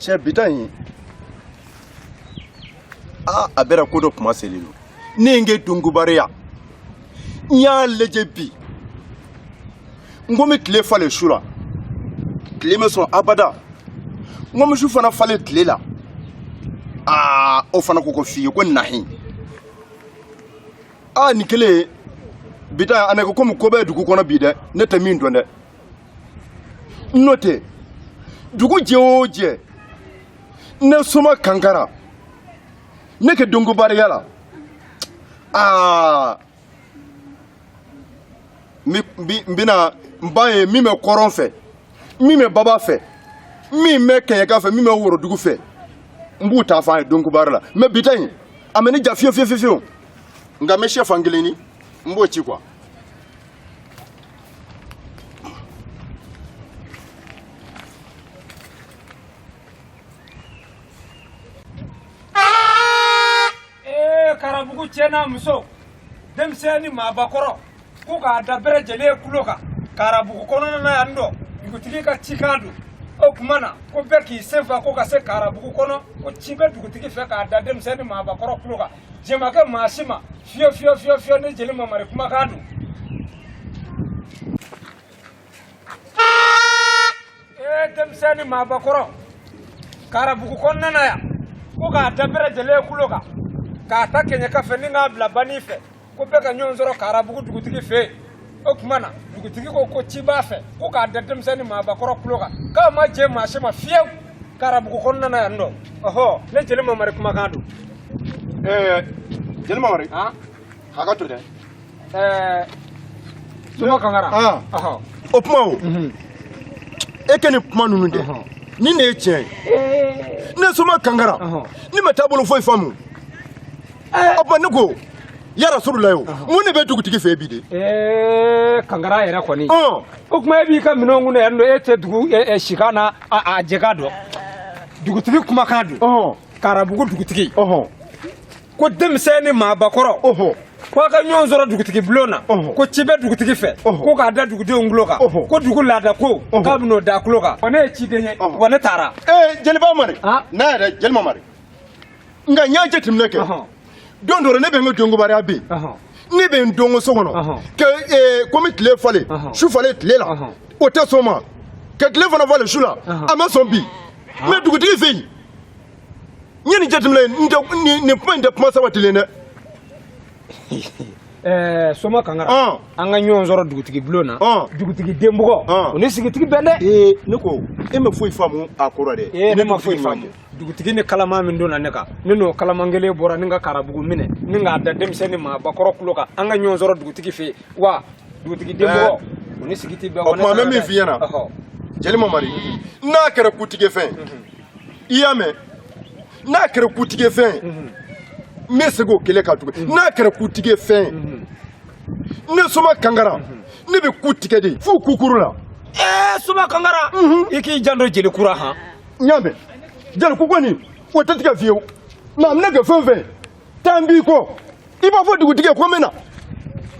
cɛ bi ta in aa a bɛra ko dɔ kuma seli don ne ye n kɛ donkobaaraya n y'a lajɛ bi n ko n bɛ tile falen su la tile ma sɔn abada n ko n bɛ su fana falen tile la aa o fana ko ko fiyewu ko nahi aa nin kelen bi ta an ko komi ko bɛ dugu kɔnɔ bi dɛ ne tɛ min dɔn dɛ n'o tɛ dugu jɛ o jɛ ne soma kankara ne kɛ donkobaaraya la aa n bɛna n b'a ye min bɛ kɔrɔn fɛ min bɛ baba fɛ min bɛ kɛɲɛka fɛ min bɛ worodugu fɛ n b'u ta fɔ a ye donkobaara la mɛ bi ta in a mɛ ne ja fiyewu fiyewu fiyewu nka n bɛ sɛfan kelen ni n b'o ci quoi karabugu cɛ n'a muso denmisɛn ni maabakɔrɔ ko k'a da bɛɛ lajɛlen kulo kan karabugu kɔnɔna na yan dɔ dugutigi ka cikan don o tuma na ko bɛɛ k'i senfa ko ka se karabugu kɔnɔ ko ci bɛ dugutigi fɛ k'a da denmisɛn ni maabakɔrɔ kulo kan jɛ ma kɛ maa si ma fiyewu fiyewu fiyewu fiyewu ne jeli mamari kumakan don ee denmisɛn ni maabakɔrɔ karabugu kɔnɔna na yan ko k'a da bɛɛ lajɛlen kulo kan k'a ta kɛɲɛka fɛ ni k'a bila banin fɛ ko bɛɛ ka ɲɔgɔn sɔrɔ karabugu dugutigi fɛ yen o tuma na dugutigi ko ko ci b'a fɛ ko k'a da denmisɛn ni maabakɔrɔ kulo kan k'a ma jɛ maa si ma fiyewu karabugu kɔnɔna na yan nɔ ɔhɔ ne jeli mamari kumakan don ɛɛ jeli mamari hakɛ to dɛ ɛɛ soma kankara ɔhɔ o kuma o mhm. e kɛ nin kuma ninnu dɛ nin de ye tiɲɛ ye ne soma kankara ne m'a taabolo foyi faamu eh. ɔ bɔn ne ko ya rasululahi mun de bɛ dugutigi fɛ bi de. ɛɛ eh, kankara yɛrɛ kɔni. o kuma e b'i ka minɛnw kun na yan nɔ e tɛ dugu eh, sikan na a jɛ k'a dɔn dugutigi kumakan don. karabugu dugutigi. ko denmisɛn ni maabakɔrɔ. ko a ka ɲɔgɔn sɔrɔ dugutigi bulon na ko ci bɛ dugutigi fɛ ko k'a da dugudenw kulo kan ko dugu laada ko k'a bɛn'o da kulo kan wa ne ye ciden ye wa ne taara. ee jeli mamari n'a yɛrɛ jeli mamari. nka n y'a jateminɛ kɛ don dɔ ne bɛ n ka dɔnkobariya bɛ yen ne bɛ n dɔnko so kɔnɔ ka komi tile falen su falen tile la o tɛ sɔn ma ka tile fana falen su la a ma sɔn bi mɛ dugutigi fɛ yen n ye nin jateminɛ n tɛ nin kuma in tɛ kuma sabatilen dɛ. Eh, soma kangara ah. an ka ɲɔgɔn sɔrɔ dugutigi bulon na ah. dugutigi denbugɔ ah. o ni sigi tɛ bɛn dɛ eh, ne ko e ma foyi faamu a kɔrɔ dɛ eh, ne ma foyi faamu dugutigi ni kalaman min donna ne kan ne n'o kalaman kelen bɔra ni ka karabugu minɛ ni k'a da denmisɛn ni maabakɔrɔ kulo kan an ka ɲɔgɔn sɔrɔ dugutigi fɛ yen wa dugutigi denbugɔ o ni sigi tɛ bɛn o tuma n bɛ min f'i ɲɛna jeli mamari n'a kɛra kutigɛ fɛn i y'a mɛn n'a kɛra kutigɛ fɛn n bɛ segin o kelen kan tuguni n'a kɛra kutigɛ fɛn ne soma kankara ne bɛ ku tigɛ de f'u kukuru la ɛɛ soma kankara i k'i janto jeli ku la han n y'a mɛn jeli ku kɔni o tɛ tigɛ fiyewu mɛ a bɛna kɛ fɛn o fɛn taa n b'i kɔ i b'a fɔ dugutigi ye ko n bɛ na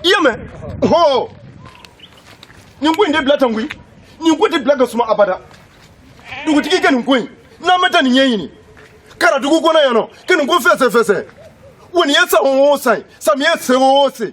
i y'a mɛn hɔ nin ko in tɛ bila tan koyi nin ko tɛ bila ka suma abada dugutigi kɛ nin ko in n'an bɛ taa nin ɲɛɲini karadugu kɔnɔ yan nɔ ka nin ko fɛsɛfɛsɛ wa nin ye san o san ye samiyɛ se o se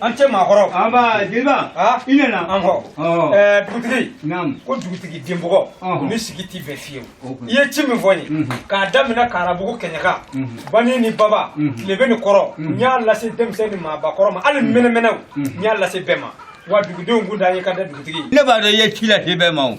a ni ce maakɔrɔ nba jeliba i nana anhɔ ɛɛ dugutigi naam ko dugutigi denbugɔ o ni sigi tɛ bɛn fiyewu i ye ci min fɔ n ye mhm. k'a daminɛ karabugu kɛɲɛka mhm. bani ni baba mhm. tilebin ni kɔrɔn n y'a lase denmisɛn ni maabakɔrɔ ma hali mɛnɛmɛnɛw n y'a lase bɛɛ ma wa dugudenw kun da ye ka da dugutigi ne b'a dɔn i ye ci lase bɛɛ ma o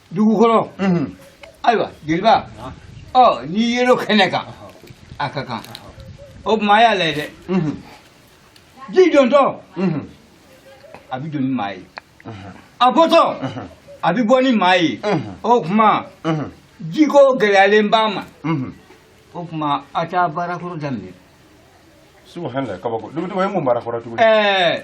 dugukɔrɔ ayiwa jeliba ɔ n'i yelo kɛnɛ kan a ka kan o tuma a y'a lajɛ dɛ ji dontɔ a bɛ don ni maa ye a bɔtɔ a bɛ bɔ ni maa ye o tuma jiko gɛlɛyalen b'a ma o tuma a t'a baarakɔrɔ daminɛ subahana kabako dugutigi o ye mun baarakɔrɔ tuguni ɛɛ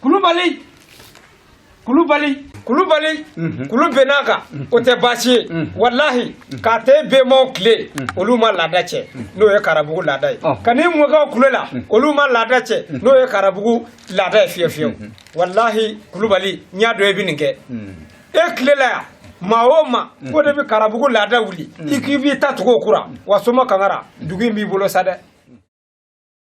kulubali kulubali kulubali mhm. kulu bɛn'a kan mhm. o tɛ baasi ye mhm. walahi k'a ta bɛnbaw tile olu ma laada cɛn n'o ye karabugu laada ye oh. ka n'i mɔkɛw tile la olu ma laada cɛn n'o ye karabugu laada ye fiye fiyewu walahi kulubali n y'a dɔn i bɛ nin kɛ e tile la yan maa o maa ko de bɛ karabugu laada wuli i k'i bɛ ta tugu o ku la wa soma kangara dugu in b'i bolo sa dɛ